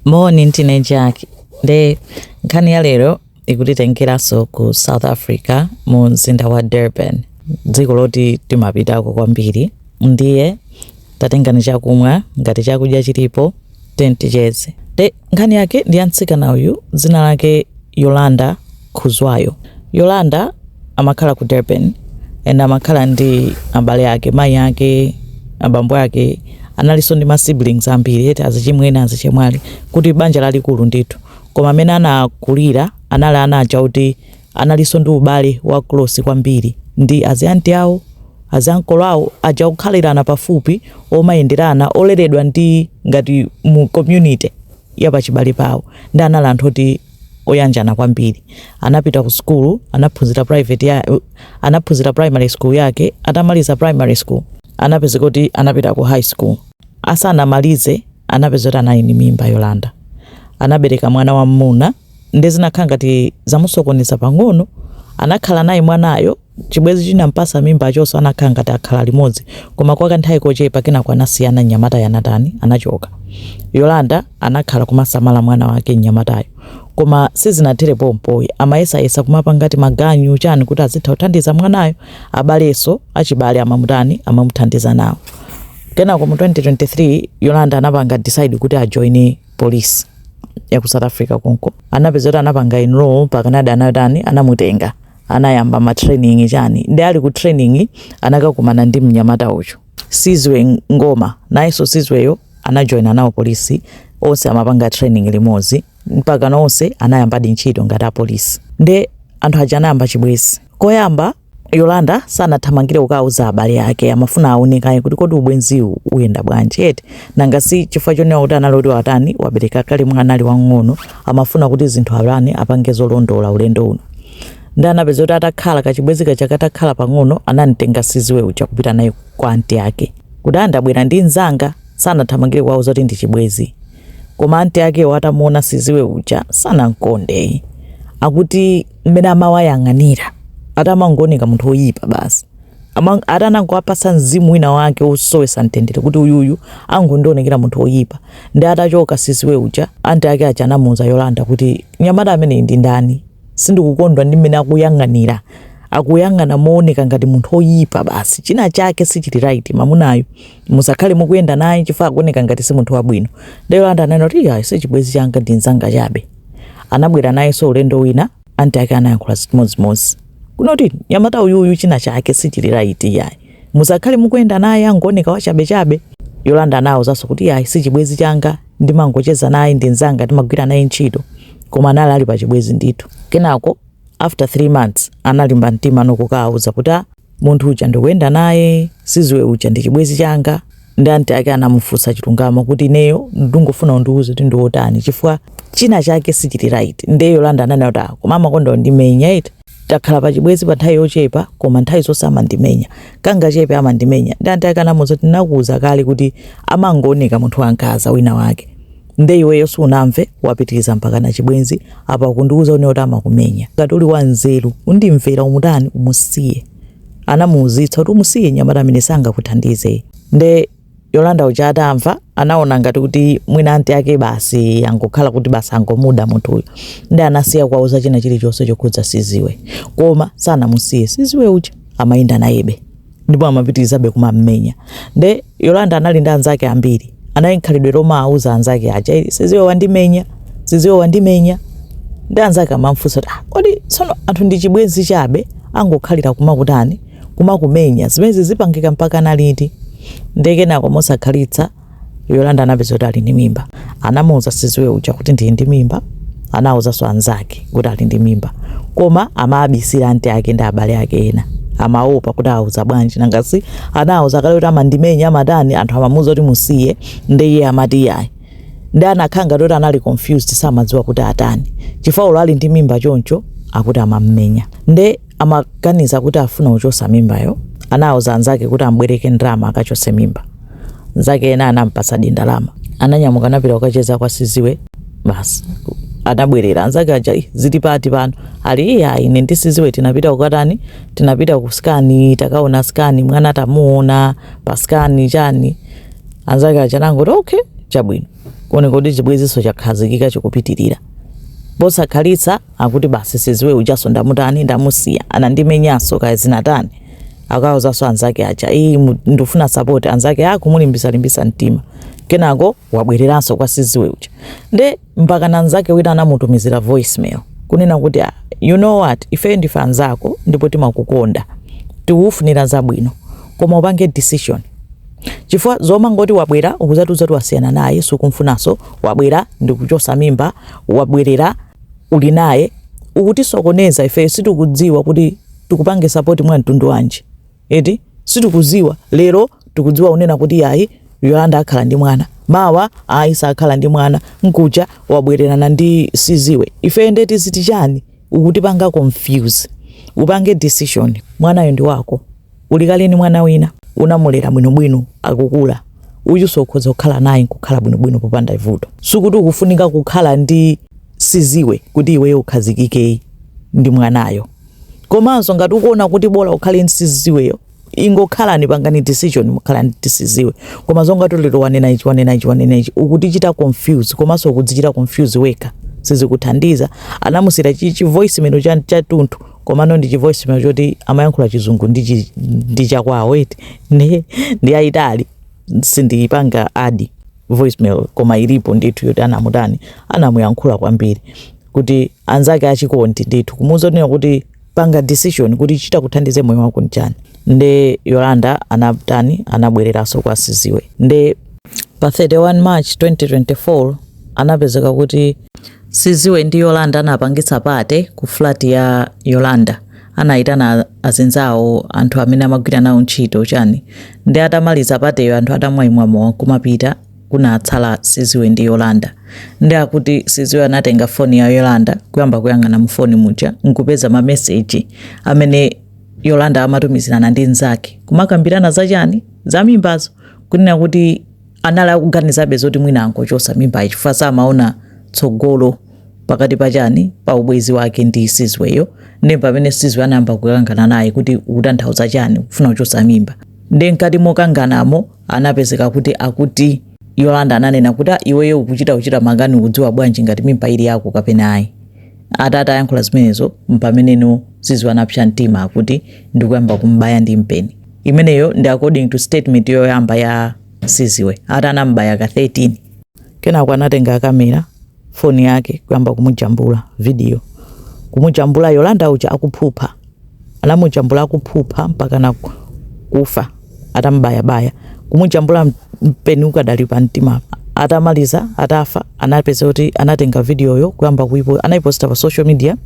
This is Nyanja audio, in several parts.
Moni ndine Jack nde nkhani ya lero ikutitengeranso ku South Africa mu mzinda wa Durban dziko loti timapitako kwambiri ndiye tatengani chakumwa ngati chakudya chilipo ticheze nde nkhani yake ndi ya mtsikana uyu dzina lake Yolanda Khuzwayo. Yolanda amakhala ku Durban and amakhala ndi abale ake, mayi ake, abambo ake, analinso ndi ma siblings ambiri eti azichimwene, azichemwali, kuti banja lalikulu ndithu. Koma amene anakulira anali ana aja kuti analinso ndi ubale wa close kwambiri ndi azianti awo, aziankolo awo, aja okhalirana pafupi, omayenderana, oleredwa ndi ngati mu community ya pachibale pawo, ndi anali anthu oti oyanjana kwambiri. Anapita ku school, anaphunzira private ya, anaphunzira primary school yake, atamaliza primary school anapezeka kuti anapita ku high school. Asanamalize anapezeka kuti anali ndi mimba Yolanda. Anabereka mwana wa mmuna ndi zinakhala ngati zamusokoneza pang'ono, anakhala naye mwanayo Chibwezi chinampasa mimbacho so anakhala ngati akhala limodzi koma kwa kanthawi kochepa kenako anasiyana mnyamatayo anatani? Anachoka. Yolanda anakhala kumasamala mwana wake mnyamatayo koma sizinathere pompoyi amayesayesa kumapanga timaganyu chani kuti azitha kuthandiza mwanayo abaleso achibale amamutani amamuthandiza nawo kenako mu 2023 Yolanda anapanga decide kuti ajoine police ya ku South Africa konko anapezeka kuti anapanga enroll kenaka anatani anamutenga anayamba ma training chani ndi ali ku training anakakumana ndi mnyamata uyo Sizwe Ngoma nayenso Sizweyo anajoina nawo polisi onse amapanga training limozi mpaka nonse anayambadi ntchito ngati apolisi nde anthu aja anayamba chibwezi koyamba Yolanda sanathamangire kukauza abale ake amafuna aonekaye kuti kodi ubwenziwu uyenda bwanji eti nanga si chifukwa chonena kuti anali woti watani wabereka kale mwana ali wang'ono amafuna kuti zinthu ulendo apange zolondola ulendo uno nde anapezeka kuti atakhala kachibwezi kaja katakhala pang'ono anamtenga Sizwe uja kupita naye kwa anti ake kuti a ndabwera ndi nzanga sanathamangire kuwauza kuti ndi chibwezi koma anti akewo atamuona Sizwe uja sanamkonde akuti mmene amawayang'anira ati amangooneka munthu woyipa basi Ati anangowapatsa mzimu wina wake wosowesa mtendere kuti uyuyu akungondionekera munthu oyipa ndi atachoka Sizwe uja anti ake aja anamuuza Yolanda kuti nyamata ameneyi ndi ndani sindikukondwa ndi mmene akuyang'anira akuyang'ana mooneka ngati munthu oyipa basi china chake sichili right mwa mamunayo musakhale mukuyenda naye chifukwa akuoneka ngati si munthu wabwino ndi Yolanda ananena kuti iyayi sichibwezi changa ndi mzanga chabe anabwera nayenso ulendo wina Aunt ake anayankhula zimodzimodzi. Kunena kuti nyamata uyuyu china chake sichili right iyayi. Musakhale mukuyenda naye angooneka wachabechabe. Yolanda anaawuzanso kuti iyayi sichibwezi changa ndimangocheza naye ndi nzanga ndimagwira naye ntchito. Koma anali ali pachibwezi ndithu. Kenako after 3 months analimba mtima nokukaawuza kuti a. Munthu uja ndikuyenda naye Sizwe uja ndi chibwezi changa ndi anti ake anamufunsa chilungamo kuti ineyo ndingofuna undiuze kuti ndi wotani chifukwa china chake sichili right nde Yolanda ananena kuti ah, koma amakonda kundimenya eti takhala pa chibwezi pa nthawi yochepa koma nthawi zonse amandimenya kangochepa amandimenya ndi anti ake anamuuza kuti ndinakuuza kale kuti amangooneka munthu wankhanza wina wake nde iweyo sunamve wapitiliza mpakana chibwenzi apa ukundiuza ine kuti amakumenya ngati uli wa nzeru undimvera umutani umusiye anamuuzitsa kuti umusiye nyamata ameneyo sangakuthandize nde yolanda uja atamva anaona ngati kuti mwina anti ake basi angokhala kuti basi angomuda munthuyo nde anasiya kuwauza china chilichonse chokhudza Sizwe koma sanamusiye Sizwe uja amayenda nayebe ndipo amapitirizabe kumam'menya nde yolanda anali ndi anzake ambiri anali ndi khalidwe lomawauza anzake aja "Eh, Sizwe wandimenya Sizwe wandimenya ndi anzake amamfunsa kuti "Ah, kodi tsono anthu ndi chibwenzi chabe angokhalira kumakutani kumakumenya zimene zizipangika mpakana liti nde kenako mosakhalitsa Yolanda anapeza kuti ali ndi mimba. Anamuuza Sizwe uja kuti ndili ndi mimba. Anauzanso anzake kuti ali ndi mimba. Koma amabisira anti ake ndi abale ake ena. Amaopa kuti awauza bwanji nanga si anawauza kale kuti amandimenya amatani anthu amamuuza kuti umusiye ndi iye amati iyayi. Ndi anakhala ngati kuti anali confused samadziwa kuti atani. Chifukwa olo ali ndi mimba choncho akuti amammenya. Nde amaganiza kuti afuna kuchosa mimbayo anauza anzake kuti ambwereke ndalama akachose mimba nzake ena anampasadi ndalama ananyamuka anapita kukacheza kwa Sizwe basi anabwerera anzake aja "Ih, zili pati pano ali iya ine ndi Sizwe tinapita kukatani tinapita ku scan takaona scan mwana tamuona pa scan chani anzake aja anangoti okay chabwino kuoneka kuti chibweziso chakhazikika chikupitirira posakhalitsa akuti basi Sizwe ujaso ndamutani ndamusiya anandimenyaso kaya zinatani akawauzaso anzake aja iyi mu- ndifuna support anzake akumulimbisalimbisa mtima kenako wabwereranso kwa Sizwe uja nde mpakana nzake wina anamutumizira voicemail kunena kuti "Ah, you know what ifeyo ndife anzako ndipo timakukonda tikukufunira zabwino koma upange decision chifukwa zomangoti wabwera ukuzatiuza kuti wasiyana naye sukumfunanso wabwera ndikuchosa mimba wabwerera uli naye ukutisokoneza ifeyo sitikudziwa kuti tikupange support mwa mtundu wanji eti sitikuziwa lero tikudziwa unena kuti yayi Yolanda akhala ndi mwana mawa ayi sakhala ndi mwana mkuja wabwererana ndi siziwe ife nde tiziti chani ukutipanga confuse upange decision mwanayo ndi wako Uli kale ndi mwana wina, unamulera bwinobwino akukula, uyunso ukhoza kukhala naye n'kukhala bwinobwino popanda vuto. Sikuti ukufunika kukhala ndi siziwe kuti iweyo ukhazikike ndi mwanayo. Komanso ngati ukuona kuti bola ukhale ndi siziweyo, ingokhalani pangani decision mukhala ndi siziwe. Koma zonga kuti lero wanena ichi, wanena ichi, wanena ichi, ukutichita confuse komanso ukudzichita confuse wekha, sizikuthandiza. Anamusiyira chi chi voice memo cha tunthu komano ndi chi voice mail choti amayankhula chizungu ndi chi- ndi chakwawo eti ndi ndi ayitali sindiyipanga add voicemail koma ilipo ndithu yoti anamutani anamuyankhula kwambiri kuti anzake achikondi ndithu kumuuza kunena kuti panga decision kuti chitakuthandize moyo wako nchani nde yolanda anatani anabwereranso kwa siziwe nde pa 31 march 2024 anapezeka kuti Siziwe ndi Yolanda anapangitsa pate ku flat ya Yolanda anayitana azinzawo anthu amene amagwira nawo ntchito chani nde atamaliza pateyo anthu atamwayimwa mowa kumapita kunatsala Siziwe ndi Yolanda nde akuti Siziwe anatenga foni ya Yolanda kuyamba kuyang'ana mu foni muja nkupeza ma message amene Yolanda amatumizirana ndi nzake kumakambirana za chani za mimbazo kunena kuti anali akuganizabe zoti mwina angochosa mimba chifukwa samaona tsogolo pakati pa chani pa ubwezi wake ndi siziweyo nde pamene siziwe anayamba kukangana naye kuti ukutanthauza chani kufuna kuchosa mimba nde mkati mokanganamo anapezeka kuti akuti yolanda ananena kuti "Ah, iweyo ukuchita kuchita makani ukudziwa bwanji ngati mimba ili yako kapena ayi Ata atayankhula zimenezo mpameneno Siziwe anapsa mtima akuti ndikuyamba kumbaya ndi mpeni. Imeneyo ndi according to statement yoyamba ya Siziwe ati anambaya ka 13. Kenako anatenga kamera foni yake kuyamba kumujambula video, kumujambula Yolanda uja akuphupha. anamujambula akuphupha mpakana kufa atambayabaya, kumujambula mpeni ukadali pamtimapa. Atamaliza, atafa, anapeza kuti anatenga vidiyoyo kuyamba kuipo, anaiposita pa social media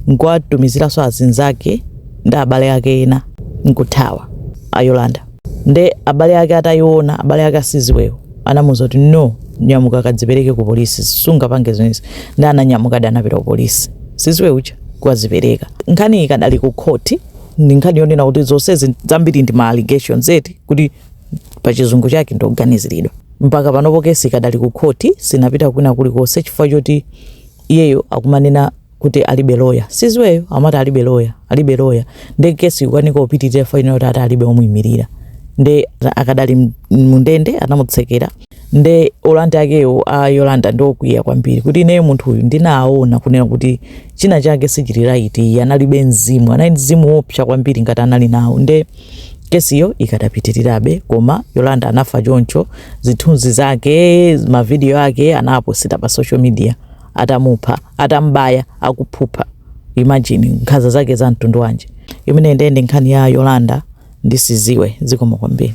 nkuwatumiziranso azinzake ndi abale ake ena nkuthawa. A Yolanda. Nde abale ake atayiona, abale ake Siziweyo anamuuza kuti no, nyamuka kadzipereke ku polisi, sungapange zimenezi. Nde ananyamukadi anapita ku polisi Siziwe uja kukadzipereka. Nkhani ikadali ku khoti, ndi nkhani yonena kuti zonsezi zambiri ndi ma allegations eti kuti pa chizungu chake ndi oganiziridwa. Mpaka panopo kesi ikadali ku khoti, sinapita kwina kulikonse chifukwa choti iyeyo akumanena kuti alibe loya siziweyo amati alibe loya alibe loya nde kesi ikukanika kupitirira for now yoti ati alibe omuyimirira nde akadali m- mundende anamutsekera nde a landlord akewo a yolanda ndi okwiya kwambiri kuti ineyo munthu uyu ndinaona kunena kuti china chake sichili right iyi analibe mzimu anali mzimu wopsa kwambiri ngati anali nawo nde kesiyo ikadapitirirabe koma yolanda anafa choncho zithunzi zake mavidiyo ake anaposita pa social media atamupha atambaya akuphupha imagine nkhanza zake za mtundu wanji imene ndi nde nkhani ya yolanda ndi siziwe zikomo kwambiri